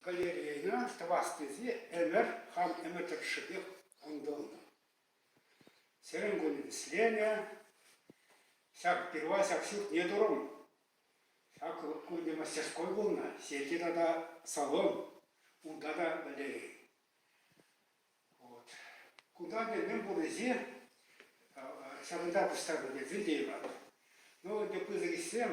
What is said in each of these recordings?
Галерейӑна тӑвас тесе ӗмӗр хам ӗмӗр тӑршшӗпех кунтӑлнӑ. Сирӗн кун вӗсленӗ. Ҫак пирва ҫак ҫуртне турӑм. Ҫак кунне мастерской пулнӑ, сехе тата салон, унта та галерей. Вот. Кунта ӗнтӗ мӗн пуррисем ҫакӑнта пуҫтарнӑ Вильде Ивановна. Ну, ӗнтӗ пысӑк ӗҫсем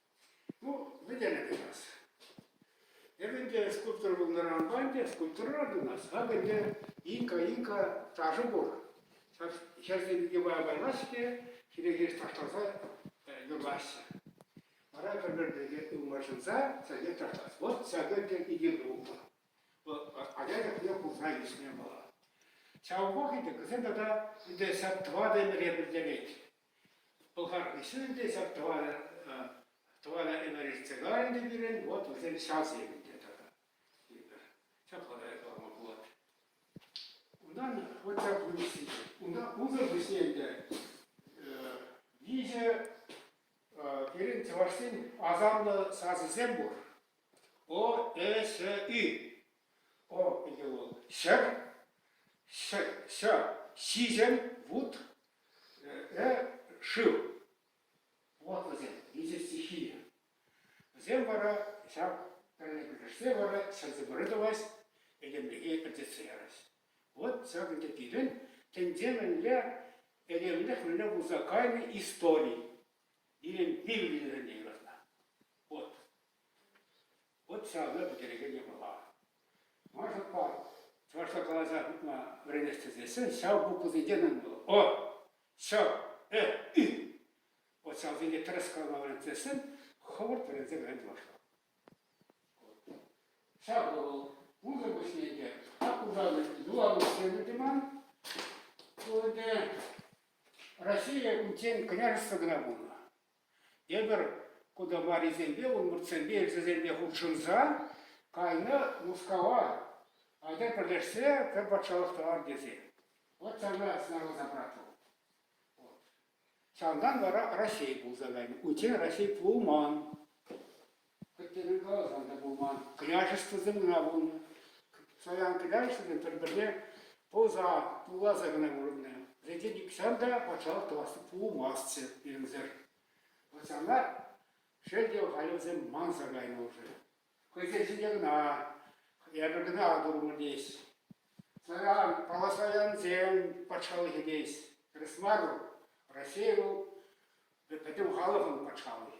Ну, вӗтенӗ тӑвас. Эп ӗнтӗ скульптор пулнӑранпа ӗнтӗ скульптора тунас. Ак ӗнтӗ Инка-Инка ташӑ пур. Ҫав ҫӗрсем йӑпа каймаҫҫӗ, хире хирӗҫ ташласа юрлаҫҫӗ. Вара пӗр-пӗрне ылмашӑнса сӗле ташлас. Вот ҫакӑ ӗнтӗ икӗ дуло. Ача чухне курса ӳснӗ вӑл. Ҫав вӑхӑт ӗнтӗ кӗсен тата ӗнтӗ ҫак тӑватӑ ӗмӗре пӗлтерет. Пӑлхар ӗҫӗ те ҫак тӑванӗ, тӑванӗ Энӗри Цигарин те пирӗн, вот вӗсем ҫавсем те тата. Ҫапла та калама пулать. Унтан хватча пуҫ, унта унсӑр пуҫне ӗнтӗ виҫӗ пирӗн чӑвашсен асамлӑ сасӑсем пур. О, Э, Ш, Ü. О питӗ вӑл ҫӗк, ҫӗк, ҫӗ, ҫиҫӗм, вут, э, шыв. Вот вӗсем, виҫӗ стихи. Вӗсем вара ҫак тӗлне пӗрлешсе вара ҫӗрсе вырӑ тӑвасть, этемлӗхе пӗлтерсе ярать. Вот ҫак ӗнтӗ пирӗн тӗнчемӗнле этемлӗх вӗрне пулса кайнӑ истори. Пирӗн Библире юратнӑ. Вот. Вӑт ҫакӑ пӗтерекен япала. Мӑшӑрпа чӑвашла каласа хутма вӗренесчӗ тесен ҫав буквӑсенче мӗн пулӑ? О, ҫ, э, и. Вот ҫавсенче тӗрӗс калама вӗренет тесен хӑвӑрт вӗренсе вӗрен чӑвашла. Ҫак вӑл унсӑр пуҫне те аккусан юланутсем туман. Ку ӗнтӗ Россия кунччен княжество кӑна пулнӑ. Тепӗр кодоварисемпе, унмӑртсемпе, элчӗсемпе хутшӑнса кайнӑ Мускава, айта пӗрлешсе пӗр патшалӑх тӑвар тесе. От сана снаружи брату. Вот. Ҫавӑнтан вара Раҫҫей пулса кайнӑ. Унччен Раҫҫей пулман. Пӗрттерен каласан та пулман. Княҫествӑсем кӑна пулнӑ. Саян княҫестве пӗр-пӗрне пӑлса, тулласа кӑна курӑннӑ. Вӗсенчен нихҫан та патшалӑх тӑвасси пулмастчӗ пирӗнсӗр. Патшана шел те хайлавсем мансӑр кайнӑ уже. Хӑйсен ҫинче кӑна, эпӗр кӑна турӑмӑр теес. Саян, паласаянсем патшалӑхӗ теес. Тӗрӗс мар вӑл. Россия вӑл пӗтӗм халӑхӑн патшалӑхӗ.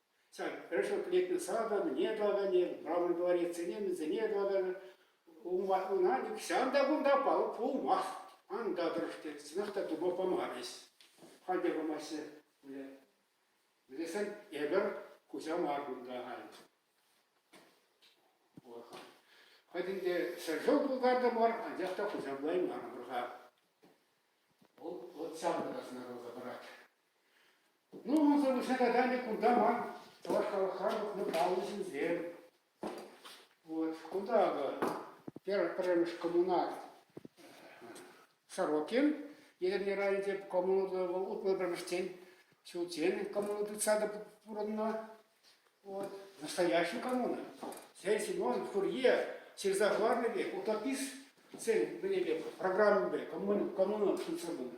Сан решетлетнӗ санӑн не тӑвӑр, не правный дворецсене мӗнсене тӑвӑр, ӑна укҫан та кунта пулмасть, анда тӑрӑш тет, сӑнах та тума памарӗҫ. Халь те памаҫҫӗ пулӗ. Мӗнлесен эпӗр куҫа мар кунта халь. Хӑй ӗнтӗ ҫӗршыв пултартӑмӑр, анчах та хуҫа пулаймарӑмӑр-ха. Вӑл ҫавӑн та сӑнарласа парать. Унӑн сӑвӑҫа кайсан те кунта ман чӑваш халӑхран тухнӑ паллӑ ҫынсем. Вот кунта акӑ пӗрремӗш коммунар Сорокин Етӗрне районӗнче коммуналлӑ утмӑл пӗрмӗшчен ҫулччен коммуна тытса та пурӑннӑ. Вот настоящая коммуна. Сен Симон Фурье ҫырса хӑварнӑ пек утописцен мӗнпе программипе коммуна ҫынсем пынӑ.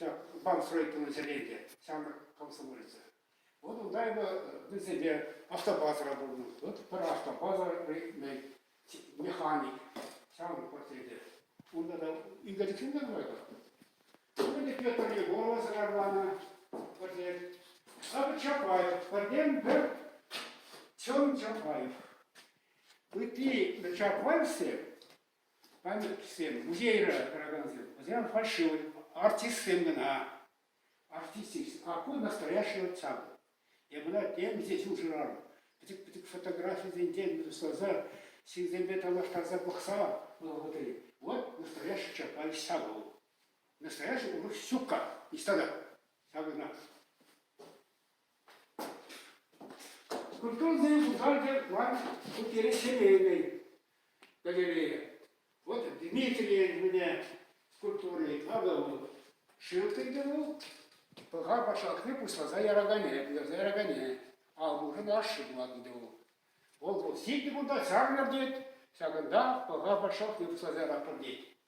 ҫак банк строительнӑйсене те ҫамрӑк комсомолец. Вот унта его вӗсемпе автобазӑра пулнӑ. Вот пӗр автобаза механик ҫавӑн портрети. Унта та ӳкерчӗксенчен курайпӑр. Пӗрле Петр Егорова сӑрарланӑ портрет. Савик Чапаев, пӗртен пӗр Чон Чапаев. Ытти Чапаевсем Пантӑксем, музейра тӑракансем, вӗсем фальшивлӗ артистсем кӑна. Артистикс, аккорд настоящего ансамбль. Эпӗ темиҫе ҫул шырарӑм. Пӗчӗк-пӗчӗк фотографисенчен тусласа, ҫынсемпе танлаштарса пӑхса вӑхӑтри, вот настоящий Чапай Савл. Настоящий урӑх ҫук-ха, ниҫта та. Ҫавӑнах. Культурӑсен пушарҫӑ ман шутнере Шемейкой галерея. Вот Дмитрийӗн мӗне скульптури надо вӑл шыв тыттӑму, пӑха пашалкне пуҫласа яракане, пытарса яракане, аллушӑн ашши пулать ӗнтӗ вӑл. Вӑл вӑл сийтӗ кунта чакнӑр тет, ҫакӑнта пӑха пашалкне пуҫласа яратпӑр тет.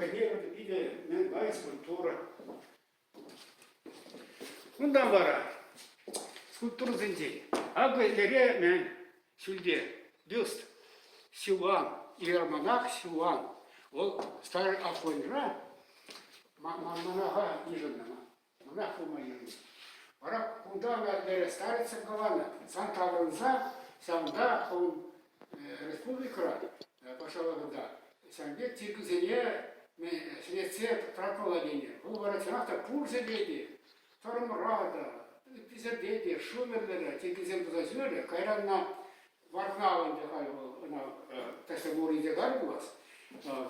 хӑйне питӗ нумай скульптура. Кунтан вара скульптурӑсенчен акӑ эремен ҫӳлте бюст Сиван, иеромонах Сиван. Вӑл старый Афоньра манманаха йышӑннӑ. Кунах пулма йывӑр. Вара кунта ӑна тӗрӗс старица кӑланӑ. Сан таврӑнса, ҫавӑнта хӑвӑн республикӑра, патшалӑх кунта, ҫавӑнпа тиркисене ҫӗнетсе тӑратмалла тенӗ. Вӑл вара чӑнах та пурсӗпе те, тӑрмӑра та, ыттисемпе те, шумерлӗ те тиркисем туса ҫӳрерӗ. Кайранна Варнал ӗнтӗ халь вӑл ӑна категорийӗ кар пулас.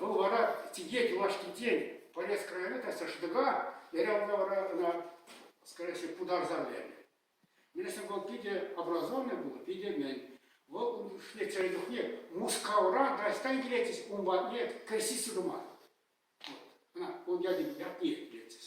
Вӑл вара тике юлашкинчен полез края та шӑтӑка, эрявна вара ӑна, скорее всего, путарса лернӗ. Мен если вӑл питӗ образованный был, витӗмен. Вӑл ун ӗҫне чухне Мускавра дастан килетчӗс, ун патне креститься туман. Ӑна ун ятне ятне килетчӗс.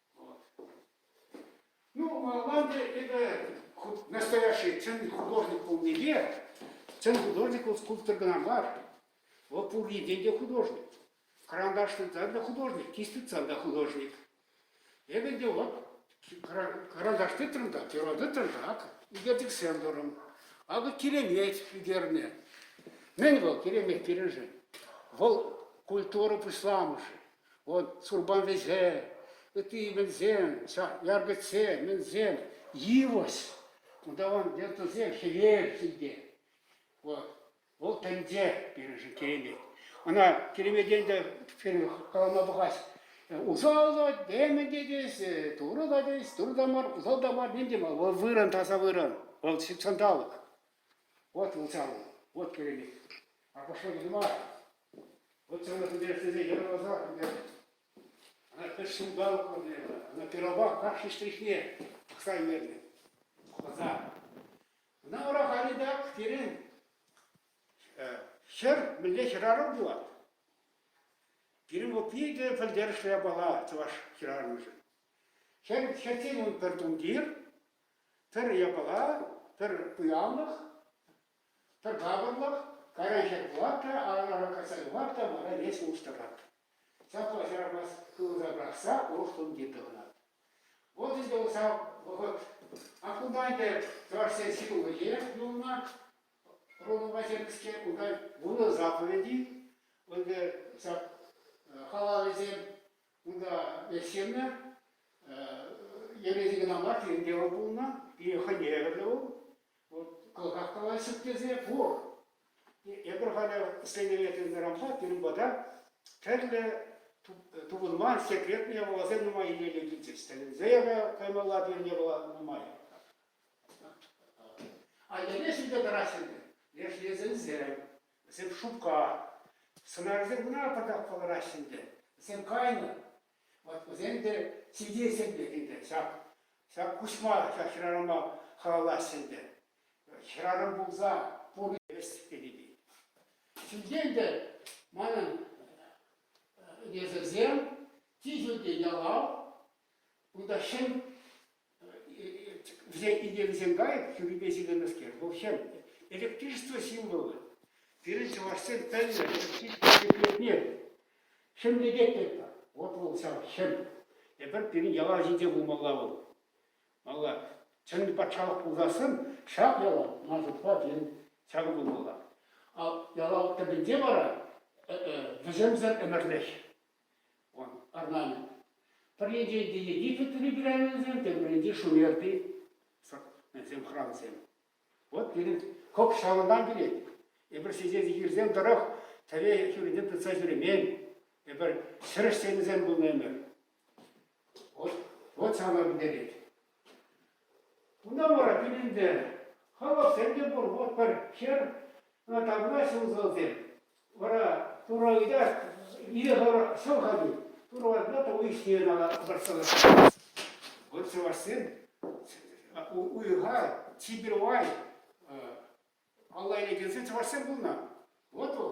Ну, Ванде это настоящий чӑн художник пулнипе, чӑн художник вӑл скульптор кӑна мар, вӑл пуринчен те художник. Карандаш тытсан та художник, кисть тытсан та художник. Эпӗ те вот карандаш тытрӑм та, перо тытрӑм та, ак ӳкерчӗксем турӑм. Акӑ киремет ӳкернӗ. Мӗн вӑл киремет пирӗншӗн? Вӑл культура пуҫламӑшӗ. Вот сурпан вӗҫе, ытти именсем, яркӑтсе, мӗнсем, йывӑҫ. Унтан вертесе хӗвел сийте. Вот. Вӑл тӗнче пирӗншӗн киремет. Ӑна киремекен те калама пӑхас. Усал теме те тес, турӑ та тес, турӑ та мар, усал та мар, ним те мар. Вӑл вырӑн, таса вырӑн. Вӑл ҫутҫанталӑк. Вот вӑл савӑн. Вот киремет. А пошел мар. Вот ҫавна интереслесе йӑлаласа ӗнтӗ ӑна пӗр ҫулталӑк ӑнланнӑ, ӑна пирова кашни штрихне пӑхса илнӗ хӑса. Ӑна ура халитак пирӗн ҫӗр мӗнле хӗрарӑм пулать? Пирӗн вӑл питӗ пӗлтерӗшлӗ япала чӑваш хӗрарӑмӗшӗн. Хӗр хӗртен ун пӗр тумтир, пӗр япала, пӗр пуянлӑх, Пӗр капӑрлӑх, кайран ват та, аран кайса юхать та мана леҫ улӑштарать. Ҫапла ҫарамас хывӑса пӑрахса урӑх тумтир тӑхӑнать. Вот ӗнтӗ усал вӑхӑт. А кунта ӗнтӗ чӑвашсен ҫитулӑхӗ юлнӑ. Родо Васильевские унта вунӑ заповеди. Ӗнтӗ ҫак халалӗсем унта ӗҫленӗ. Йӗрӗсем кӑна мар, ҫемье вӑл пулнӑ, пире хӑневӗ те вӑл. Вот кӑлхахкалаҫҫӗ тесе пур. Эпир халӗ ӗҫленӗре тытӑннӑранпа пирӗн пата тӗрлӗ тупӑнман секретные явӑласем нумай илемлӗ килчӗҫ. Тӗлӗнсе каймалла пирӗн япала нумай. А йӗле ҫӳлте тӑраҫҫӗ ӗнтӗ. Леш резӗнсем, вӗсем шупка. Сӑнарсем кӑна пӑртак кӑлараҫҫӗ ӗнтӗ. Вӗсем кайнӑ, Вот вӗсем те сивтеҫҫӗ ӗнтӗ ӗнтӗ ҫак. Ҫак куҫма ҫак хӗрарӑма халаллаҫҫӗ ӗнтӗ. Хӗрарӑм пулса пурне весть пирки. Ҫӳлтен те манӑн несӗлсем чи ҫӳлти ялав, кунта ҫӗн вӗсен инкекӗсем кайӑк хӳрипе силеннӗскер. Вӑл хӗл. Электричество символы. Пирӗн чӑвашсем пӗлнӗ епле Хӗмлететпӗр. Вот вӑл ҫав хӗл. Эпир пирӗн яла ҫинче пулмалла вӑл. Малла чӑн патшалӑх пулсассӑн ҫак яла мансӑртпа тен ҫакӑ пулмалла. А яла тӗпӗнче вара вӗсемсӗр ӗмӗрлӗх Орнамент. Пӗрринчен те Египет либеральнисем, тепринчен Шумерти хрансем. Вот пирӗн кӑп ҫавӑнтан килет. Эпир ҫичен сехирсем тӑрӑх тӗве хӳринчен тытса ҫӳремен. Эпир ҫӗрӗшсенӗсем пулнӑ ӗмӗр. Вот, вот ҫавна пӗтерет. Унта вара пин ӗнтӗ. Хӑвӑрсем те пур, вот пӗр хӗр, тавра ҫулсӑрсем. Вара Турӑ ыйтать, ирехӗр ҫӑл-ха Турӑ ватма тӑу ӗҫне ӑна вӑрҫсӑрлатать. Вот чӑвашсем уйӑха чипер вай, алла илекенсем чӑвашсем пулнӑ. Вот вӑл.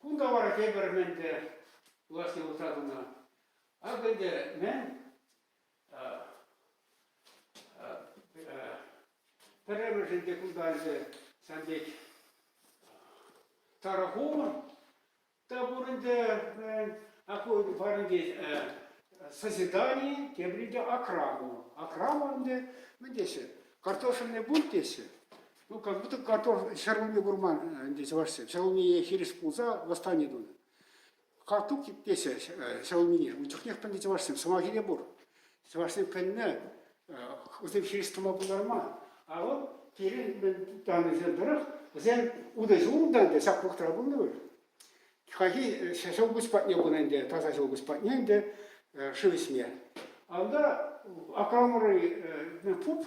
Кунта вара тепӗр мӗн те власть улӑхса тӑнӑ. Акӑ ӗнтӗ мӗн пӗрремӗшӗн те кунта ӗнтӗ сан пек тарӑху та пур ӗнтӗ какой-то пареньке созидание, тепринче окрама. Окрама ӗнтӗ мӗн теҫҫӗ? Картошенный бульт теҫҫӗ. Ну, как будто картоф ҫӗр умне курман ӗнтӗ чӑвашсем. Ҫӗр умне хирӗҫ пулса восстани тунӑ. Картук тесе ҫӗр умне. Ун чухнех пӗлнӗ чӑвашсем. Сӑмахӗ пур. Чӑвашсем пӗлнӗ, вӗсем хирӗҫ тӑма пултарма. А вот пирӗн мӗн тӑраннисем тӑрӑх вӗсем утӑ ҫулнӑ ӗнтӗ, ҫак вӑхӑтра пулнӑ вӗт. Хайхи ҫӗр упӑсь патне пынӑ ӗнтӗ, таса ҫӗр упӑсь патне ӗнтӗ шыв ӗҫме. Анда Акрамӑрри пуп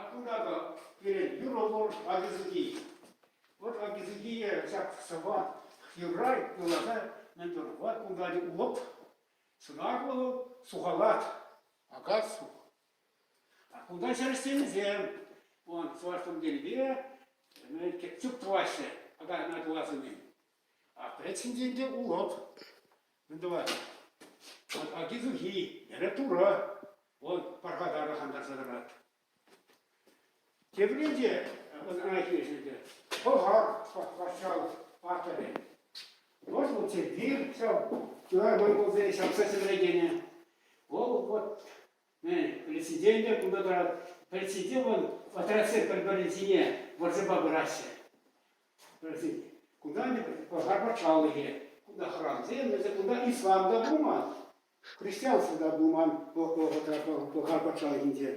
Акура-ха пирӗн юрӑ-тор ачисеки. Вӑл ачисекие ҫак сӑвва юрра юрласа мӗн юрӑпа култарать улӑп. Сӑнарлӑ вӑл сухалать, акассу. Акула чӗрӗсемсем вӑл чӑваш тумтирпе тӗп тӑваҫҫӗ. Ака ӑна кулас умӗн. Аппаретсем те ӗнтӗ улӑп. Мӗн тӑвать? Аки сухи, эрех турӑ. Вӑл пархатар хантарса тӑрать. Теприн те ӑна хирӗҫ ӗнтӗ. Пӑхар патшалӑх паттӑрӗ. Вӑл вӑл Сергей ҫав тырар монголсене ҫапса ҫӗтлекенӗ. Вӑл вот президенте кунта тӑрать. Президент вӑл отрядсем пӗр-пӗрин ҫине вӑрҫӑпа пыраҫҫӗ. Пӗлсен, кунта пӑшар патшалӑхӗ, кунта храмсем, вӗсем кунта ислам та пулман, христианство та пулман вӑхӑтра пӑшар патшалӑхӗнче.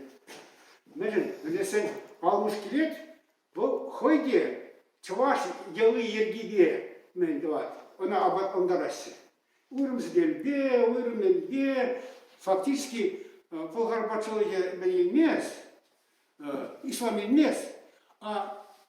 Мӗншӗн пӗлесен, калмыш килет, вӑл хӑй те чӑваш йӑли-йӗркипе мӗн тӑвать, ӑна апатлантараҫҫӗ. Уйрӑмсемпе, уйрӑмӗнпе фактически пӑшар патшалӑхӗ мӗн илмест, ислам илмест, а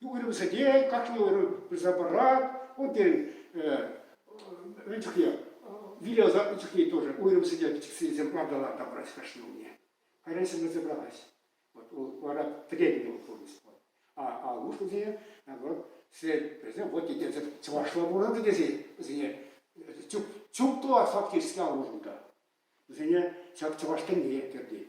Уйрӑмсене кашни уйрӑм пырса парать. Унтен ун чухне виле ӑса ун чухне тоже уйрӑмсене пӗчӗксенсем лавталан тавӑраҫ кашни умне. Кайран ҫынна забралась. Вот вара требовал полностью. А, а лучшие, вот, вӗсем вот тесе чӑвашла пурӑннӑ тесе вӗсене чуп то фактически аллӑ унта. Вӗсене ҫак чӑваш тӗнне кӗртет.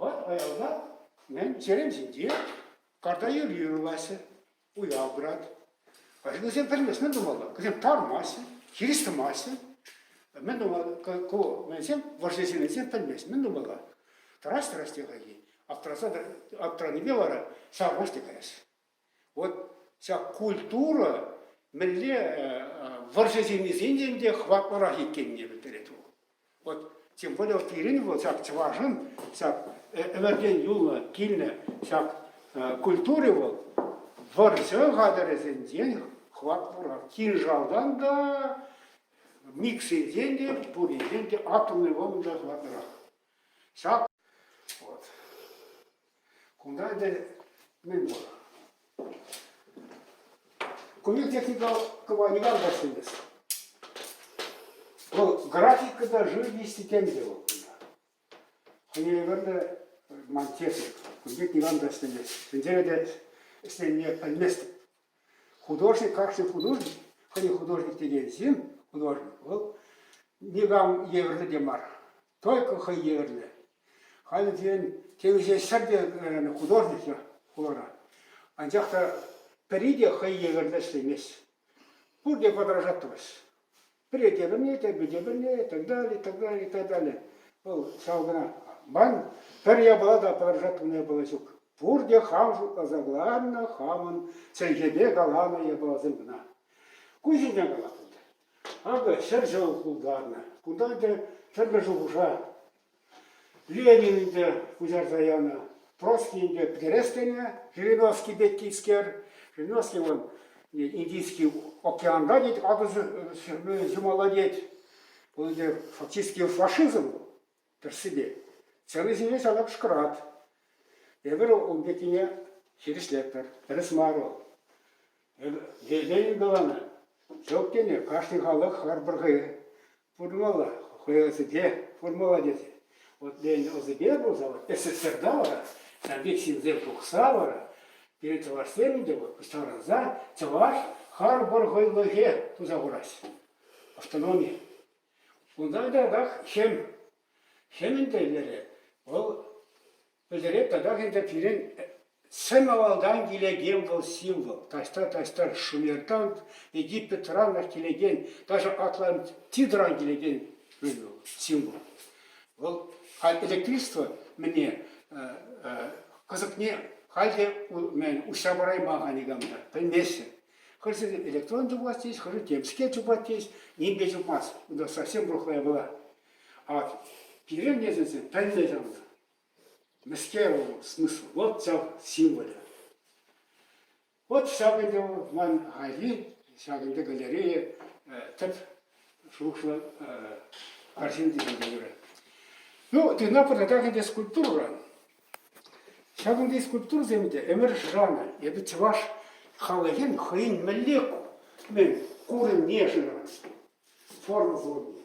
Вӑт аялта чӗрем ҫинче карта юрри юрлаҫҫӗ, уяв пырать. Вӗсем пӗлместен тумалла, кӗсем тармаҫҫӗ, хирӗҫ тӑмаҫҫӗ. Мӗн тумалла, ку мӗнсем вӑрҫӑ ҫыннисем пӗлмест, мӗн тумалла? Тӑрас-тӑрас те хайхи, аптӑранипе вара ҫаврӑнӑш те каяҫҫӗ. Вот ҫак культура мӗнле вӑрҫӑ ҫыннисен те хӑватлӑрах иккенне пӗлтерет вӑл. Вот тем более вот Ирина вӑл ҫак чӑвашӑн ҫак ӗмӗртен юлнӑ килнӗ ҫак культури вӑл вӑрҫӑ хатӗрӗсенчен хӑватлӑрах. Кинжалтан та, миксерсен те, пуринчен те атомный бомба та хӑватлӑрах. Ҫак вот. кунта ӗнтӗ мӗн пур? Кунти техника кӑвайнӑран вӗҫлемес. Вӑл графика та живописи тем те вӑл кунта. Хӑневерне ман техник, кунти никам та ӗҫлемест. Сенсене те ӗҫлеме пӗлместӗп. Художник, как же художник? Хӑйӗн художник текен ҫын, художник, вӑл никам евӗрлӗ те мар, только хӑй евӗрлӗ. Халӗ пирӗн темиҫе ҫӗр те художниксем курӑнать. Анчах та пӗри те хӑй евӗрлӗ ӗҫлемест. Пурте подражать тӑваҫ. претерым етӗрпе тепӗрле и так далее, и так далее, и так далее. Вӑл ҫав кӑна. Ман пӗр япала та пӑрахатӑн япала ҫук. Пурте хам шутласа кӑларнӑ, хамӑн чӗлхепе каланӑ япаласем кӑна. Ку ҫинчен калатӑп. Акӑ ҫӗр ҫӑл култарнӑ. Кунта ӗнтӗ тӗрлӗ шухӑша Ленин ӗнтӗ куҫарса янӑ, Троцкий ӗнтӗ пӗтерес тенӗ Жириновский пеккискер. Жириновский вӑл Индийский океанта тет, акӑ ҫумалла тет. Вӑл ӗнтӗ фактически фашизм вӑл тӗрӗссипе. Ценӑсене ҫавна кӑшкӑрат. Эпир ун пеккине хирӗҫлетпӗр. Тӗрӗс мар вӑл. Ленин каланӑ, ҫук тени кашни халӑх харпӑр хӑй. Формула хӑйӑрсене формула тесе. Вот Ленин ӑсӗпе пулса вот СССРта вара ҫав пек ҫынсем тухса вара пирӗн чӑвашсем те вот ставрӑнса чӑваш харпӑр хӑйлӑхе туса хураҫҫӗ. Автономи. Унта кӑштах ҫем. Ҫемӗн тӗллевӗ вӑл Пӗлтерет татах ӗнтӗ пирӗн сӗм авалтан килекен вӑл символ. Таҫта-таҫта Шумертан, Египетранах килекен, даже Атлантидран килекен символ. Вӑл электричество мӗне кӑсӑкне халь те уҫса парайман-ха никам та, пӗлместӗн. Хӑшӗ электрон тупас тейӗҫ, хӑшӗ темскер тупас тейӗҫ, нимпе тупмасть. Унта совсем рухлая была. А пирӗн несӗлсем пӗлнӗ ҫавна. Мӗскер вӑл смысл? Вот ҫав символӗ. Вот ҫак ӗнтӗ ман айри, ҫак ӗнтӗ галерее тӗп шухӑшлӑ арҫын тесе юрать. Ну, тына пӑртаках ӗнтӗ скульптурӑран. Ҫак ӗнтӗ скульптурӑсем те ӗмӗр шанӑ. Эпӗ чӑваш халӑхӗн хӑйӗн мӗнле курӑмне шырас, форма курӑмне.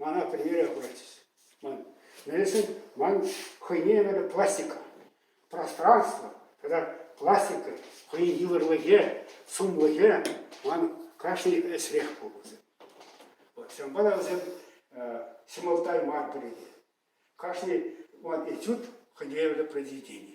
Мана пӗрмере куратчӗҫ. Ман, мӗншӗн ман хӑйне евӗрлӗ пластика, пространство тата пластика хӑйӗн йывӑрлӑхӗ, сумлӑхӗ ман кашни ӗҫрех пулӑшӗ. Ҫавӑнпа та вӗсем ҫӑмӑлттай мар пӗрре. Кашни ман этюд хӑйне евӗрлӗ произведени.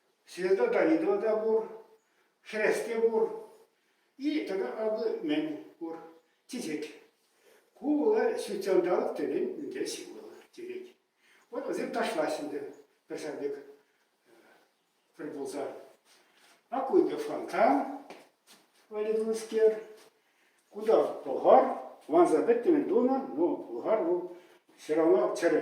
Света Данилова та пур, хресте пур, и тата алли-мӗн пур, тетет. Ку вӑл ҫутҫанталӑк тӗлӗн ӗнтӗ ҫывӑл тетет. Вот вӗсем ташлаҫҫӗ ӗнтӗ пӗр ҫав пек пӗр пулса. А ку ӗнтӗ фонтан валедунскер. Кунта пӑлхар, ванса пӗттӗмӗн тунӑ, но пӑлхар вӑл все равно чӗрӗ.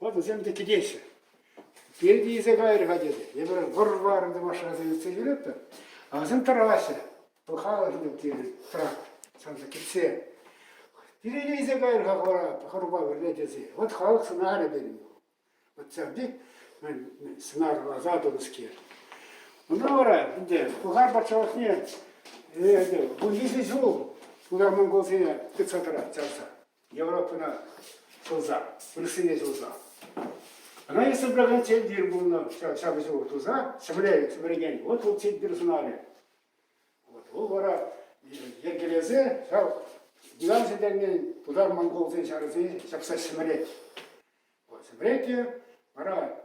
Вот вӗсем те кӗтеҫҫӗ. Пирки илсе кайрӗ-ха тетӗ. Эпир вӑр-варӑн те машинӑсем ертсе килетпӗр. А вӗсем тӑраҫҫӗ. Вӑл халӑхне тирӗ трак санса кӗтсе. Пирки илсе кайрӗ-ха хора, хӑрупа пӗрле тесе. Вот халӑх сӑнарӗ пирӗн. Вот ҫавти сӑнар аса тунӑскер. Ӑна вара ӗнтӗ Пӑхар патшалӑхне вунвиҫӗ ҫул тутар монголсене тытса тӑрать чавса. Европӑна ҫулса, вырӑссене ҫулса. Она есть соображен цель мир буду ҫапӑҫу туса, Земля суверенен. Вот вӑл цель мир сӑнарӗ. Вот вӑл вара йӗркелесе ҫав Диван сӗтелне тутар монголсен ҫарӗсене ҫапса ҫӗмӗрет. Вот ҫӗмӗретте вара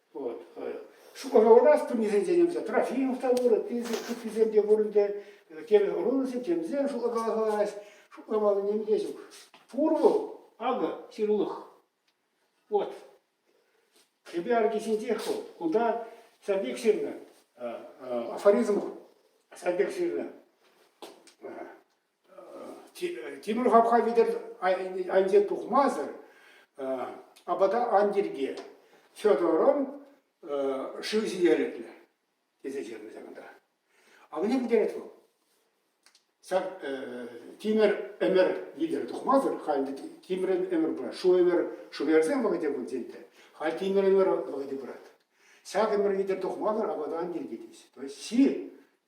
Вот. Шукаровӑра студнисенчен ӗмсе Трофимов та пурӑн, ыттисем те пурӑн те, темӗн ӑрунӑсем темсем шутлакаласа калаҫ, шутламалли ним те ҫук. Пур вӑл, акӑ, ҫырулӑх. Вот. Кӗпе арки ҫинчех вӑл. Кунта садик ҫырнӑ, афоризм садик ҫырнӑ. Тимӗр хапха витӗр айӗнче тухмасӑр апата ан тирке. Федорӑн шыв ҫителӗклӗ, тесе ҫырнӑ ҫакӑнта. Авне пӗтерет вӑл. Ҫак тимӗр ӗмӗр витӗр тухмасӑр халь тимӗр ӗмӗр пырать. Шу ӗмӗр, шу ӗмӗрсем вӑхӑте пулчӗ ӗнтӗ. Халь тимӗр ӗмӗр вӑхӑте пырать. Ҫак ӗмӗр витӗр тухмасӑр апата ан тиркетӗҫ. То есть ҫи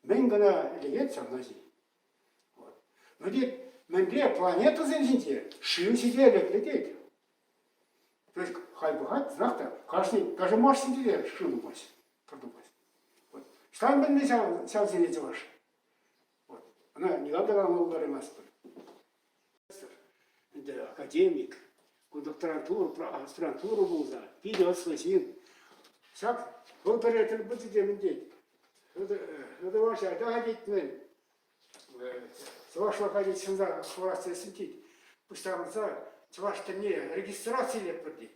мӗн кӑна лекет ҫавна ҫи. Вӗтет мӗнле планетӑсем ҫинче шыв ҫителӗклӗ тет. То есть хай бывает, знак та кашни, даже Марс ҫинче шыв тухмасть, пыр тухмасть. Вот. Ҫавӑн пӗлнӗ ҫав, ҫав сире чӑваш. Вот. Она никогда нам благодарен нас ӗнтӗ академик, ку докторантура, аспирантура пулса, питӗ ӑслӑ ҫын. Ҫак вӑл пӗрре тӗл пулчӗ темӗн тет. Хӑтӑваҫа атаха тет мӗн. Чӑвашлӑха тет ҫынна хӑварас тесен тет. Пуҫтарӑнса чӑваш тӗнне регистрацилетпӗр тет.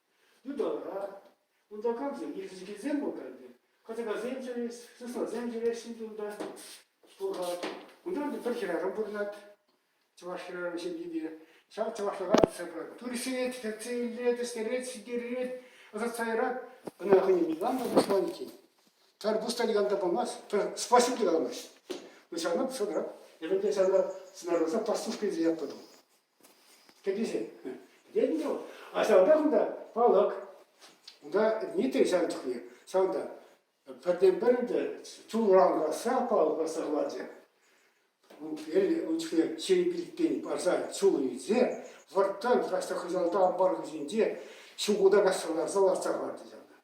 ыталра. Унта камсем ирӗчекенсем пултарнӑ. Катакасем ҫӳрес, сыснасем ҫӳрес ҫинче унта пулать. Унтан пӗр хӗрарӑм пурӑнать чӑваш хӗрарӑм ҫемйине. Ҫав чӑвашлӑха тытса пырать. Турсет, кӗтсе илет, ӗҫтерет, ҫитерет, ӑсатса ярать. Ӑна хӑйне никам та пушман иккен. Пӗр пуста никам та пулмасть, пӗр спаситель те калмасть. Ну ҫавна пушатӑрах. Эпӗ те ҫавна сӑнарласа пастушка тесе ятпӑтӑм. Кӗтӳсем. Тетӗн вӑл. А ҫавӑнта кунта палӑк. Унта нитӗк ҫав чухне. Ҫавӑнта пӗртен-пӗр ӗнтӗ чулран касса палӑк касса хӑварчӗ. Ун чухне чей пилтен парса чул илсе вӑрттан краҫҫа хыҫалта ампар хыҫӗнче ҫукута каҫса ларса лартса хӑварчӗ ҫавна.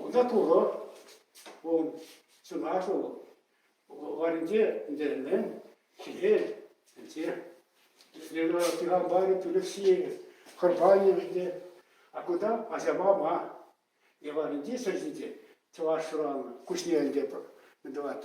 Кунта Турӑ, вӑл чӑнах вӑл варӗнче ӗнтерӗнмен хире ӗнтсе. Лена Пихамбарӗ Тӳлексийӗ хӑрпанӗ ӗнтсе. А кунта Асямама Еваринти сӑрҫинче чӑваш шыранӑ куҫне ӗнтӗ мӗн тӑвать.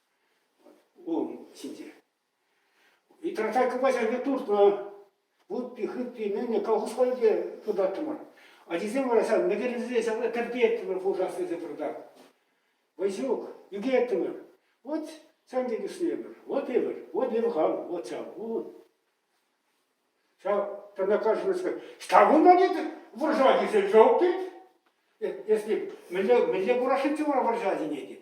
Улӑм ҫинче. И тогда купачасене туртнӑ вутти хытти нине колхозла те тытаттӑмӑр. Ачисем вара ҫав мекелесе ҫав кӗртеттӗмӗр хушас тесе пыртах. Васюк, ӳкеттӗмӗр. Вот сан пек ӳснемӗр. Вот эвӗр, вот ивгал, вот ҫав улӑм. Ҫав тана кажется, что кунта нет вӑрҫа тесе жок тет. Если мӗнле мӗнле курашиччӗ вара вӑрҫа синети?